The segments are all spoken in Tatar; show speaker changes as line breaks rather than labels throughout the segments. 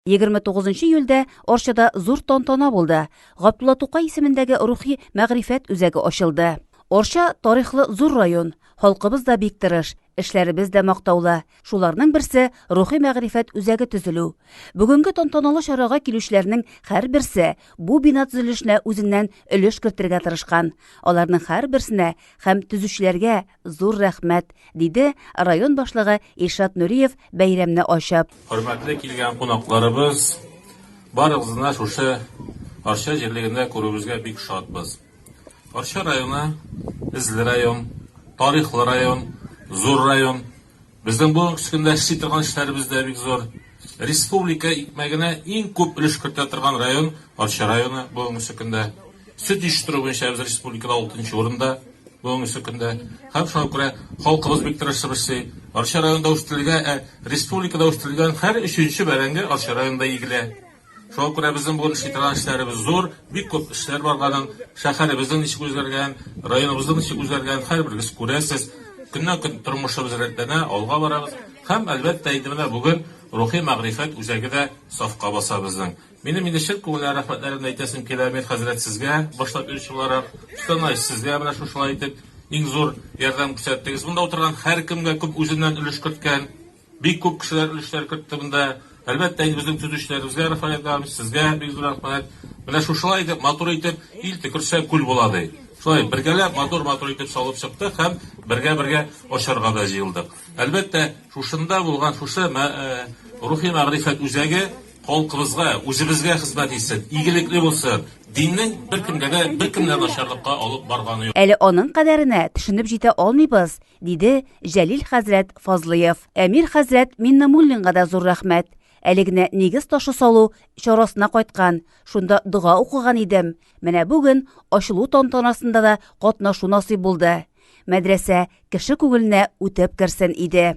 29 июльдә Арчада зур тантана булды. Габдулла Тукай исемендәге рухи мәгърифәт үзәге ачылды. Арча тарихлы зур район. Халкыбыз да бик тырыш, эшләребез дә мактаулы. Шуларның берсе рухи мәгърифәт үзәге төзелү. Бүгенге тантаналы чарага килүчеләрнең һәрберсе бу бина төзелешенә үзеннән өлеш кертергә тырышкан. Аларның һәрберсенә һәм төзүчеләргә Зур рәхмәт, диде район башлыгы Илшат Нуриев бәйрәмне ачып. Хөрмәтле килгән кунакларыбыз, барыгызны шушы Арча җирлегендә күрүебезгә бик шатбыз. Арча районы, эзле район, тарихлы район, зур район. Безнең бу көндә эшли торган эшләребез дә бик зур. Республика икмәгенә иң күп өлеш кертә торган район Арча районы бүгенге көндә. Сөт җитештерү буенча без республикада алтынчы урында бүгенге көндә. Һәм шуңа күрә халкыбыз бик тырышып эшли. Арча районында үстерелгән, республикада үстерелгән һәр өченче бәрәңге Арча районында игелә. Шуңа күрә безнең бүген эшли торган эшләребез зур, бик күп эшләр бар аның. Шәһәребезнең ничек үзгәргән, районыбызның ничек үзгәргән, һәрберегез күрәсез. Көннән-көн тормышыбыз рәтләнә, алга барабыз. Һәм, әлбәттә, инде менә бүген Рухи мәгърифәт үзәге дә сафка баса безнең. Минем инде чын күңелдән рәхмәтләремне әйтәсем килә, Мир хәзрәт, сезгә, башлап йөрүче буларак, Штанай, сезгә менә шушылай итеп иң зур ярдәм күрсәттегез. Монда утырган һәркемгә күп үзеннән өлеш керткән. Бик күп кешеләр өлешләр кертте монда. Әлбәттә инде безнең төзүчеләребезгә рәхмәт әйтәбез, сезгә бик зур рәхмәт. Менә шушылай итеп, матур итеп, ил төкерсә, күл була, ди. Шулай бергәләп матур-матур итеп салып чыктык һәм бергә-бергә очарга да җыелдык. Әлбәттә, шушында булган шушы рухи-мәгърифәт үзәге халкыбызга, үзебезгә хезмәт итсен, игелекле булсын, диннең беркемгә дә, беркемне дә начарлыкка алып барганы юк. Әле аның кадәренә төшенеп җитә алмыйбыз, Диде Җәлил хәзрәт Фазлыев. Әмир хәзрәт Миннамуллинга да зур рәхмәт. Әле генә нигез ташы салу чарасына кайткан, шунда дога укыган идем. Менә бүген ачылу тантанасында да катнашу насыйп булды. Мәдрәсә кеше күңеленә үтеп керсен иде.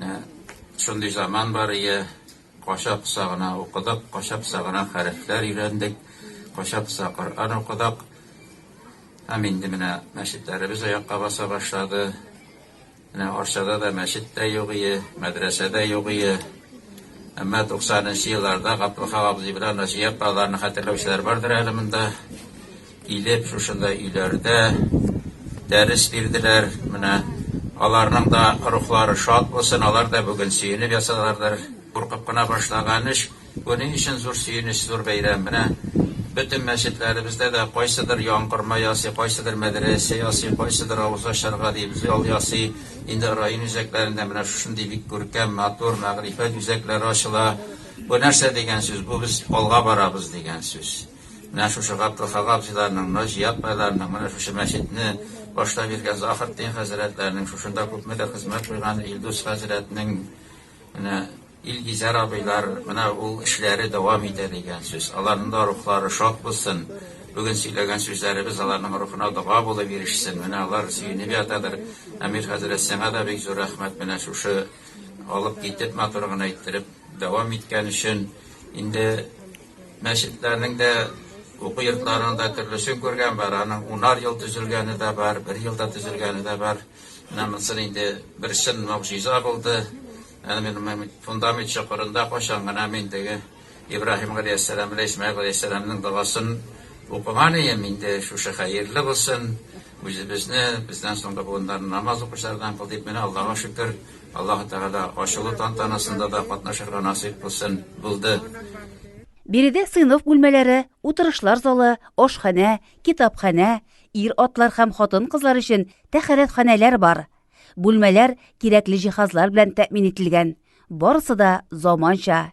Ә, шундый заман бар ие, кача-поса гына укыдык, кача-поса гына хәрефләр өйрәндек, кача-поса Коръән укыдык. Һәм инде менә мәчетләребез аякка баса башлады. Менә Арчада да мәчет тә юк ие, мәдрәсә дә юк ие. Әмма 90 нчы елларда Гаптурхан абзый белән Наҗия апаларны хәтерләүчеләр бардыр әле монда. Килеп шушындай өйләрдә дәрес бирделәр. Менә аларның да рухлары шат булсын, алар да бүген сөенеп ясадылардыр. Куркып кына башлаган эш, бу ни өчен зур сөенеч, зур бәйрәм. Менә бөтен мәчетләребездә дә кайсыдыр яңгырма ясый, кайсыдыр мәдрәсә ясый, кайсыдыр авыз ачарга дип зал ясый. Инде район үзәкләрендә менә шушындый бик күркәм, матур мәгърифәт үзәкләре ачыла. Бу нәрсә дигән сүз? Бу без алга барабыз дигән сүз. Менә шушы Габдул Хак абзыйларның, Наҗия апайларның, менә шушы мәчетне башлап йөргән Заһретдин хәзрәтләрнең, шушында күпме дә хезмәт куйган Илдус хәзрәтнең, менә Илгизәр абыйлар, менә ул эшләре дәвам итә дигән сүз. Аларның да рухлары шат булсын. Бүген сөйләгән сүзләребез аларның рухына дога булып ирешсен. Менә алар сөенеп ятадыр. Әмир хәзрәт, сиңа да бик зур рәхмәт, менә шушы алып китеп, матур гына иттереп дәвам иткән өчен. Инде Мәчетләрнең дә, уку йортларының да төрлесен күргән бар. Аның унар ел төзелгәне дә бар, бер елда төзелгәне дә бар. Менә монысы инде бер чын могҗиза булды. Әнә мин фундамент чокырында кайчан гына мин теге Ибраһим галәйһиссәлам белән Исмәгыйль галәйһиссәламның догасын укыган идем. Инде шушы хәерле булсын, үзебезне, бездән соңгы буыннарны намаз укучылардан кыл дип, менә Аллага шөкер. Аллаһы Тәгалә ачылу тантанасында да катнашырга насыйп кылсын, булды. Биредә сыйныф бүлмәләре, утырышлар залы, ашханә, китапханә, ир-атлар һәм хатын-кызлар өчен тәхәрәтханәләр бар. Бүлмәләр кирәкле җиһазлар белән тәэмин ителгән. Барысы да заманча.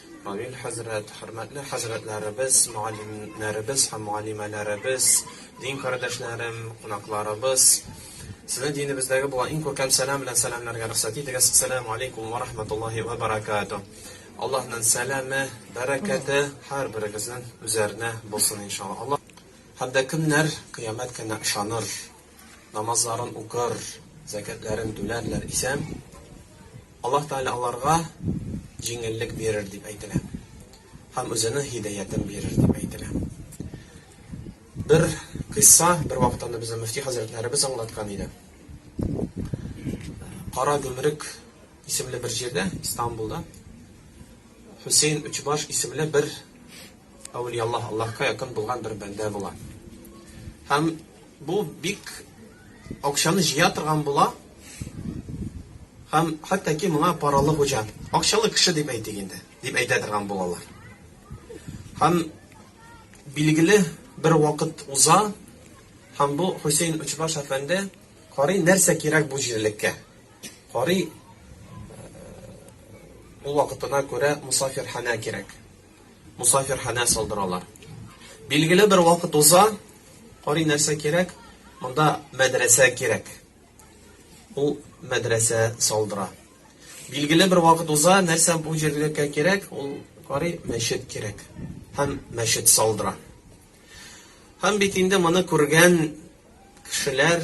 Амин хәзрәт, хөрмәтле хәзрәтләребез, мөгаллимнәребез һәм мөгаллимәләребез, дин кардәшләрем, кунакларыбыз! Сезне динебездәге булган иң күркәм сәлам белән сәламләргә рөхсәт итегез, Ассәләмү алейкум вә рахмәтуллаһи вә бәрәкәтүһ! Аллаһның сәламе, бәрәкәте һәрберегезнең үзәренә булсын, иншалла. Аллаһ һәм дә кемнәр кыямәт көненә ышаныр? намазларын укыр, зәкятләрен түләрләр исән, Аллаһ Тәгалә аларга җиңеллек бирер дип әйтелә. Һәм үзенең һидәятен бирер дип әйтелә. Бер кыйсса бер вакытта безне мөфти хәзрәтләребез аңлаткан иде. Кара Гөмрек исемле бер җирдә, Истанбулда, Хусейн Үчбаш исемле бер Әүлия Аллаһ Аллаһка якын булган бер бәндә була. Һәм бу бик акчаны җыя торган була. Һәм хәтта ки моңа паралы хуҗа, акчалы кеше дип әйтик инде, дип әйтә торган булалар. Һәм билгеле бер вакыт уза, һәм бу Хусейн Учбаш әфәнде карый нәрсә кирәк бу җирлеккә. Карый э, ул вакытына күрә мусафирханә кирәк. Мусафирханә салдыралар. Билгеле бер вакыт уза, карый нәрсә кирәк? Монда мәдрәсә кирәк. Ул мәдрәсә салдыра. Билгеле бер вакыт уза, нәрсә бу җирлеккә кирәк? Ул карый мәчет кирәк. Һәм мәчет салдыра. Һәм бит инде моны күргән кешеләр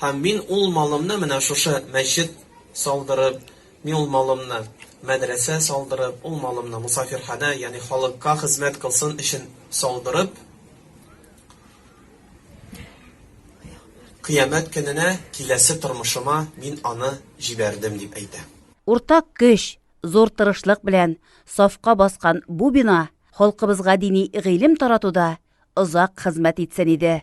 Һәм мин ул малымны менә шушы мәчет салдырып, мин ул малымны мәдрәсә салдырып, ул малымны мосафирханә, ягъни халыкка хезмәт кылсын өчен салдырып, кыямәт көненә киләсе тормышыма мин аны җибәрдем, дип әйтә. Уртак көч, зур тырышлык белән сафка баскан бу бина халкыбызга дини гыйлем таратуда озак хезмәт итсен иде.